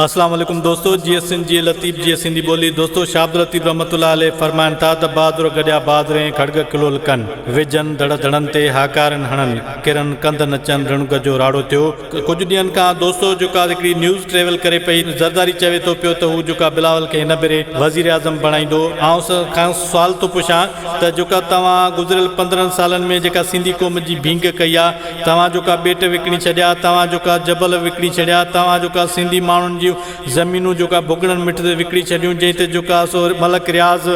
اسلام عليڪم دوستو جيئي سنڌ جيئي لطيف جيئي سنڌي ٻولي دوستو شاھ عبداللطيف رحمة الله عليه فرمائن ٿا ته بھادر گڏيا بھادرين کڙڳ ڪلھو لڪن وجھن دڙ دڙن تي ھاڪارين ھڻن ڪرن ڪنڌ نچن رڻگ جو راڙو ٿيو ڪجھ ڏينھن کان دوستو جيڪا ھڪڙي نيوز ٽريول ڪري پئي زرداري چوي ٿو پيو ته ھو جيڪا بلاول کي ھن ڀيري وزير اعظم بڻائيندو آئونس کانئس سوال ٿو پڇان ته جيڪا توھان گذريل پندرھن سالن ۾ جيڪا سنڌي قوم جي ڀينگ ڪئي آ توهان جوڪا ٻيٽ وڪڻي ڇڏيا، توهان جوڪا جبل وڪڻي ڇڏيا، توهان جوڪا سنڌي ماڻهن جون زمينون جوڪا ڀڳڙن مٺ تي وڪڻي ڇڏيون، جنهن تي جوڪا سو Malik Riaz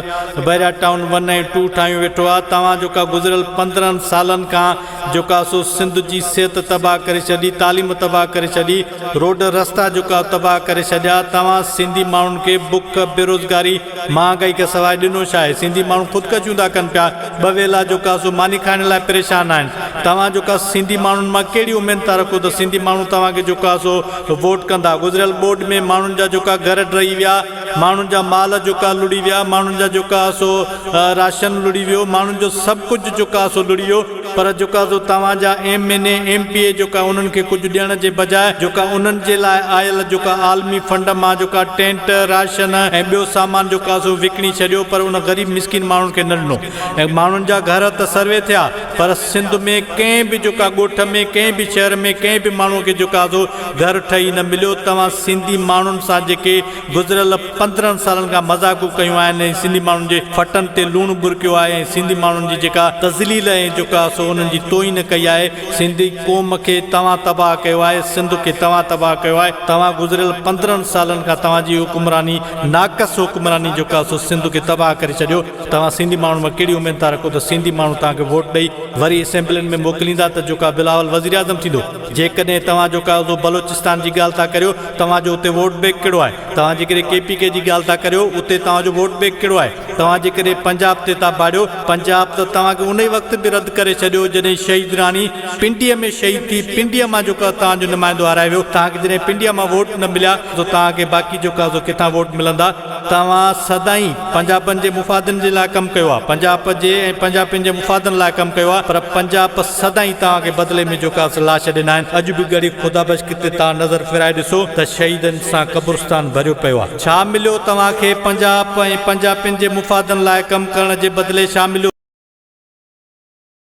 Bahria town one ۽ two ٺاهيون ويٺو آ، توهان جوڪا گذريل پندرهن سالن کان جوڪا سو سنڌ جي صحت تباهه ڪري ڇڏي، تعليم تباهه ڪري ڇڏي، روڊ رستا جوڪا تباهه ڪري ڇڏيا، توهان سنڌي ماڻهن کي بک، بيروزگاري. مهانگائي کي سواء ڏنو ڇا آهي؟ سنڌي ماڻهو خودڪشيون ٿا ڪن پيا. ٻه ويلا جو ڪاسو ماني کائڻ لاء پريشان آهن. توهان جو ڪا سنڌي ماڻهن مان ڪهڙي اميد ٿا رکو ته سنڌي ماڻهو توهان کي جو ڪاسو ووٽ ڪندا. گذريل ٻوڏ ۾ ماڻهن جا جو ڪا گهر ڊهي ويا، ماڻهن جا مال جو ڪا لڙي ويا، ماڻهن جا جو ڪاسو راشن لڙي ويو، ماڻهن جو سڀ ڪجهه جو ڪاسو لڙي ويو. پر جيڪا سو توهان جا M N A, M P A جيڪا انهن کي ڪجهه ڏيڻ جي بجاء جيڪا انهن جي لاء آيل جيڪا عالمي فنڊ مان جيڪا ٽينٽ، راشن ۽ ٻيو سامان جيڪا سو وڪڻي ڇڏيو پر ان غريب مسڪين ماڻهن کي نه ڏنو ۽ ماڻهن جا گهر ته سروي ٿيا پر سنڌ ۾ ڪنهن به جيڪا ڳوٺ ۾ ڪنهن به شهر ۾ ڪنهن به ماڻهو کي جيڪا سو گهر ٺهي نه مليو توهان سنڌي ماڻهن سان جيڪي گذريل پندرهن سالن کان مذاقون ڪيون آهن ۽ سنڌي ماڻهن جي ڦٽن تي لوڻ ٻرڪيو آهي ۽ سنڌي ماڻهن جي جيڪا تذليل ۽ جوڪا سو انهن جي توهين ڪئي آهي سنڌي قوم کي توهان تباهه ڪيو آهي سنڌ کي توهان تباهه ڪيو آهي توهان گذريل پندرهن سالن کان توهان جي حڪمراني ناقص حڪمراني جوڪا سو سنڌ کي تباهه ڪري ڇڏيو توهان سنڌي ماڻهن مان ڪهڙي اميد ٿا رکو ته سنڌي ماڻهو توهان کي ووٽ ڏئي وري اسيمبلين ۾ موڪليندا ته جوڪا بلاول وزيراعظم ٿيندو جيڪڏهن توهان جو قاعدو بلوچستان جي ڳالهه ٿا ڪريو توهان جو اتي ووٽ بينڪ ڪهڙو آهي توهان جيڪڏهن ڪي پي ڪي جي ڳالهه ٿا ڪريو اتي توهان جو ووٽ بينڪ ڪهڙو آهي توهان جيڪڏهن پنجاب تي ٿا ڀاڙيو پنجاب ته توهان کي انهي وقت به رد ڪري ڇڏيو جڏهن شهيد راڻي پنڊيء ۾ شهيد ٿي پنڊيء مان جو توهان جو نمائندو هارائي ويو توهان کي جڏهن پنڊيء مان ووٽ نه مليا ته توهان کي باقي جو قاعدو ڪٿان ووٽ ملندا توهان سدائين پنجابن جي مفادن جي لاء ڪم ڪيو آهي، پنجاب جي ۽ پنجابين جي مفادن لاء ڪم ڪيو آهي پر پنجاب سدائين توهان کي بدلي ۾ جوڪاس لاش ڏنا آهن، اڄ به ڳڙهي خدا بخش ڪتي توهان نظر ڦيرائي ڏسو ته شهيدن سان قبرستان ڀريو پيو آهي. ڇا مليو توهان کي پنجاب ۽ پنجابين جي مفادن لاء ڪم ڪرڻ جي بدلي ڇا مليو؟